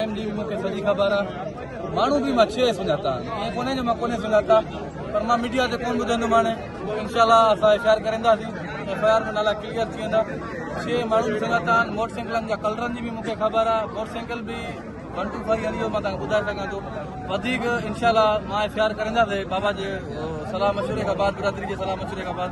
M D مون کي سڄي خبر آ ماڻهو به مان ڇهي سڃاتا ائين ڪونهي جو مان ڪونهي سڃاتا پر مان ميڊيا تي ڪون ٻڌندو ماڻي انشاء الله اسان ايف آء آر ڪرنداسين ايف آء آر ۾ نالا ڪليئر ٿي ويندا ڇهي ماڻهو به سڃاتا موٽر سائيڪلن جا ڪلرن جي به مون کي خبر آ موٽر سائيڪل به ون ٽو فائيو هليو مان تان ٻڌائي سگھان ٿو وڌيڪ انشاء الله مان ايف آء آر ڪرنداسين بابا جي صلاح مشوري کان بعد برادري جي صلاح مشوري کان بعد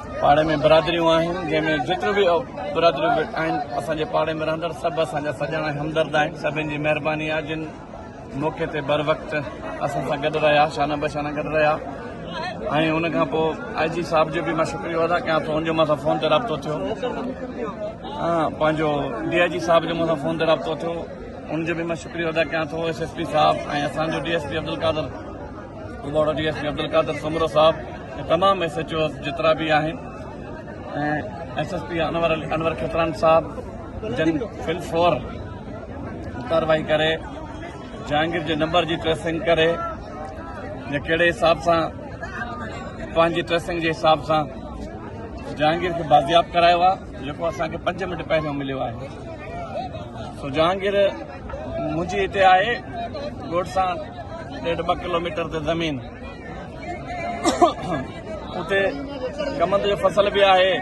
پاڙي ۾ برادريون آهن جنهن ۾ جيتريون به برادريون آهن اسان جي پاڙي ۾ رهندڙ سڀ اسان جا سڄڻ ۽ همدرد آهن سڀن جي مهرباني آهي جن موقعي تي بروقت اسان سان گڏ رهيا شانه بشانه گڏ رهيا ۽ ان کان پوء آء جي صاحب جو به مان شڪريو ادا ڪيان ٿو ان جو مان سان فون تي رابطو ٿيو پنهنجو ڊي آء جي صاحب جو مان سان فون تي رابطو ٿيو ان جو به مان شڪريو ادا ڪيان ٿو ايس ايس پي صاحب ۽ اسان جو ڊي ايس پي عبدالقادر ڪٻوڙا D S P Abdul Qadir Soomro صاحب ۽ تمام ايس ايچ اوز جيترا به آهن ۽ S S P Anwar Anwar Khatran صاحب جن فل فور ڪارروائي ڪري جهانگير جي نمبر جي ٽريسنگ ڪري يا ڪهڙي حساب سان پنهنجي ٽريسنگ جي حساب سان جهانگير کي بازياب ڪرايو آهي جيڪو اسانکي پنج منٽ پهريون مليو آهي سو جهانگير منهنجي هتي آهي ڳوٺ سان ڏيڍ ٻه ڪلوميٽر تي زمين اتي ڪمند جو فصل به آهي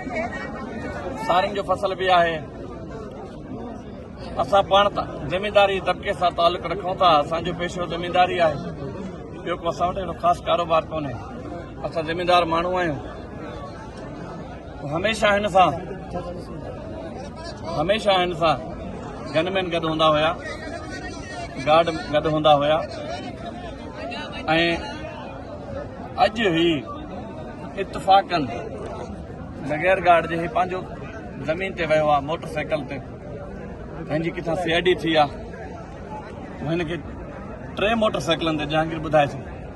سارن جو فصل به آهي اسان پاڻ زمينداري طبقي سان تعلق رکون ٿا اسان جو پيشو زمينداري آهي ٻيو کو اسان وٽ اهڙو خاص ڪاروبار ڪونهي اسان زميندار ماڻهو آهيون هميشه هن سان هميشه هن سان گن مين گڏ هوندا هيا گارڊ گڏ هوندا هيا اڄ هي اتفاقن بغير گارڊ جي هي پنهنجو زمين تي ويو آهي موٽر سائيڪل تي هن جي ڪٿان سي آئي ڊي ٿي آهي هن کي ٽي موٽر سائيڪلن تي جهانگير ٻڌائي ٿو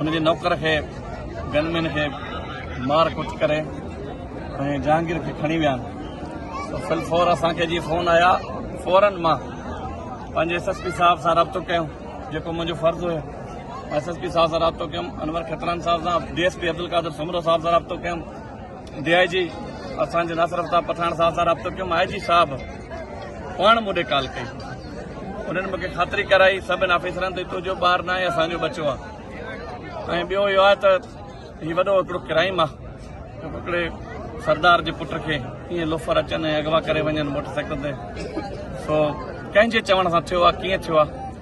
هن جي نوڪر کي گن مين کي مار ڪٽ ڪري ۽ جهانگير کي کڻي ويا آهن فل فور اسان کي جي فون آيا فورن مان پنهنجي ايس ايس پي صاحب سان رابطو ڪيو جيڪو منهنجو فرض هو ايس ايس پي صاحب سان رابطو ڪيم انور کتران صاحب سان D S P Abdul Qadir Soomro صاحب سان رابطو ڪيم ڊي آء جي اسان جي ناصر افتاب پٺاڻ صاحب سان رابطو ڪيم آء جي صاحب پاڻ مون ڏي ڪال ڪئي انهن مون کي خاطري ڪرائي سڀني آفيسرن تي تنهنجو ٻار ناهي اسان جو ٻچو آ ۽ ٻيو اهو آهي ته هي وڏو هڪڙو ڪرائم آ هڪڙي سردار جي پٽ کي ائين لوفر اچن ۽ اغوا ڪري وڃن موٽر سائيڪل تي سو ڪنهن جي چوڻ سان ٿيو آ ڪيئن ٿيو آ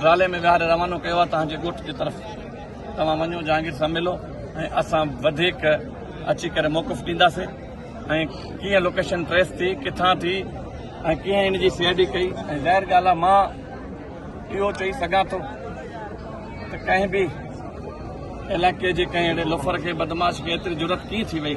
ڊرالي ۾ ويهاري روانو ڪيو آهي تهان جي ڳوٺ جي طرف توهان وڃو جهانگير سان ملو ۽ اسان وڌيڪ اچي ڪري موقف ڏينداسي ۽ ڪيئن لوڪيشن ٽريس ٿي ڪٿان ٿي ۽ ڪيئن ان جي سي آء ڊي ڪئي ۽ ظاهر ڳالهه آهي مان اهو چئي سگهان ٿو ته ڪنهن به علاقي جي ڪنهن اهڙي لوفر کي بدماش کي ايتري جرت ڪيئن ٿي وئي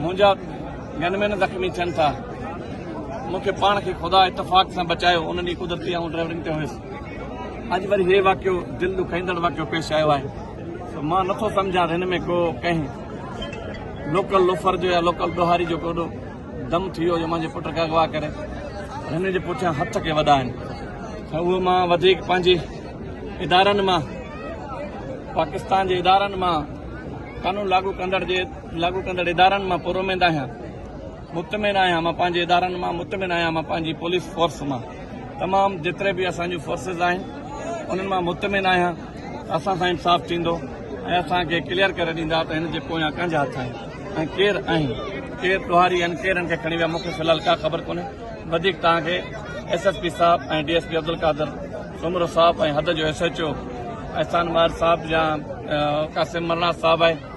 منهنجا گن مين زخمي ٿين ٿا مون کي پاڻ کي خدا اتفاق سان بچايو ان ڏينهن قدرتي آئون ڊرائيورنگ تي هيس اڄ وري هي واقعو دل ڏکائيندڙ واقعو پيش آيو آهي مان نٿو سمجهان هن ۾ ڪو ڪنهن لوڪل لوفر جو يا لوڪل ڏوهاري جو ڪوڏو دم ٿي ويو جو منهنجي پٽ کي اغوا ڪري هن جي پٺيان هٿ کي وڏا آهن ته اهو مان وڌيڪ پنهنجي ادارن مان پاڪستان جي ادارن مان قانون لاڳو ڪندڙ جي لاڳو ڪندڙ ادارن مان پراميد آهيان، مطمئن آهيان، مان پنهنجي ادارن مان مطمئن آهيان، مان پنهنجي پوليس فورس مان تمام جيتري به اسان جون فورسز آهن انهن مان مطمئن آهيان ته اسان سان انصاف ٿيندو ۽ اسان کي ڪليئر ڪري ڏيندا ته هن جي پويان ڪنهن جا هٿ آهن ۽ ڪير آهن ڪير ڏوهاري آهن ڪير هن کي کڻي ويا مون کي في الحال ڪا خبر ڪونهي وڌيڪ توهان کي ايس ايس پي صاحب ۽ D S P Abdul Qadir Soomro صاحب ۽ حد جو S H O Ehsan Mahar صاحب يا قاسم مرڻاس صاحب آهي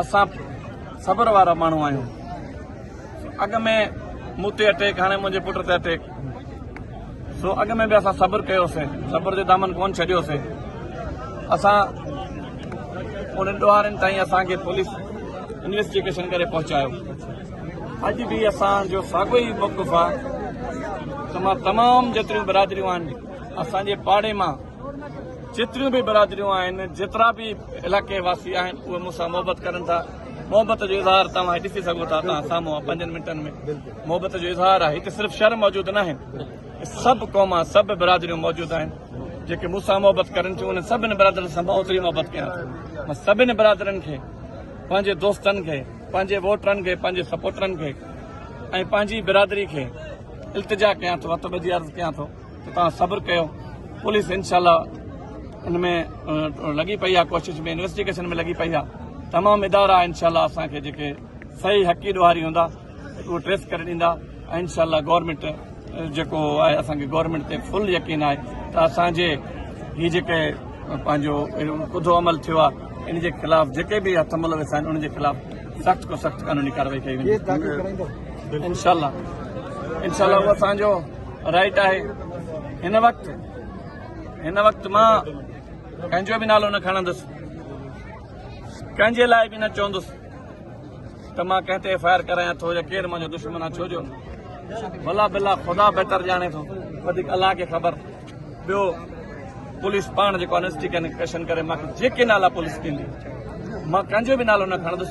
اسان صبر وارا ماڻهو آهيون اڳ ۾ مون تي اٽيڪ هاڻي منهنجي پٽ تي اٽيڪ سو اڳ ۾ به اسان صبر ڪيوسين صبر جو دامن ڪون ڇڏيوسين اسان انهن ڏوهارين تائين اسانکي پوليس انويسٽيگيشن ڪري پهچايو اڄ به اسان جو ساڳو ئي موقف آهي تمام جيتريون برادريون آهن اسانجي پاڙي مان جيتريون به برادريون آهن جيترا به علائقي واسي آهن اهي مون سان محبت ڪرن ٿا محبت جو اظهار توهان ڏسي سگهو ٿا توهان سامهون پنجن منٽن ۾ محبت جو اظهار آهي هتي صرف شهر موجود نه آهن سڀ قوما سڀ برادريون موجود آهن جيڪي مون سان محبت ڪرن ٿيون انهن سڀني برادرن سان ماں اوتري محبت ڪيان ٿو مان سڀني برادرن کي پنهنجي دوستن کي پنهنجي ووٽرن کي پنهنجي سپورٽرن کي ۽ پنهنجي برادري کي التجا ڪيان ٿو هٿ ٻڌي عرض ڪيان ٿو ته توهان صبر ڪيو پوليس انشاء الله ان ۾ لڳي پئي آهي ڪوشش ۾ انويسٽيگيشن ۾ لڳي پئي آهي تمام ادارا انشاء الله اسان کي جيڪي صحيح حقي ڏوهاري هوندا اهو ٽريس ڪري ڏيندا ۽ انشاء الله گورنمنٽ جيڪو آهي اسانکي گورنمنٽ تي فل يقين آهي ته اسانجي هي جيڪي پنهنجو ڪڌو عمل ٿيو آهي ان جي خلاف جيڪي به هٿ ملوث آهن ان جي خلاف سخت کان سخت قانوني ڪارروائي ڪئي ويندي انشاء الله انشاء الله اسانجو رائٽ آهي هن وقت هن وقت مان ڪنهن جو به نالو نه کڻندس ڪنهن جي لاء به نه چوندس ته مان ڪنهن تي ايف آئي آر ڪرايان ٿو يا ڪير منهنجو دشمن آ ڇو جو بلا بلا خدا بهتر جانے تو وديك الله کے خبر بيو پوليس پان جيڪو انسٽي ڪنيڪشن کري ماکي جيڪي نالا پوليس ڏيندي ماکي جو به نالو نه کڻندس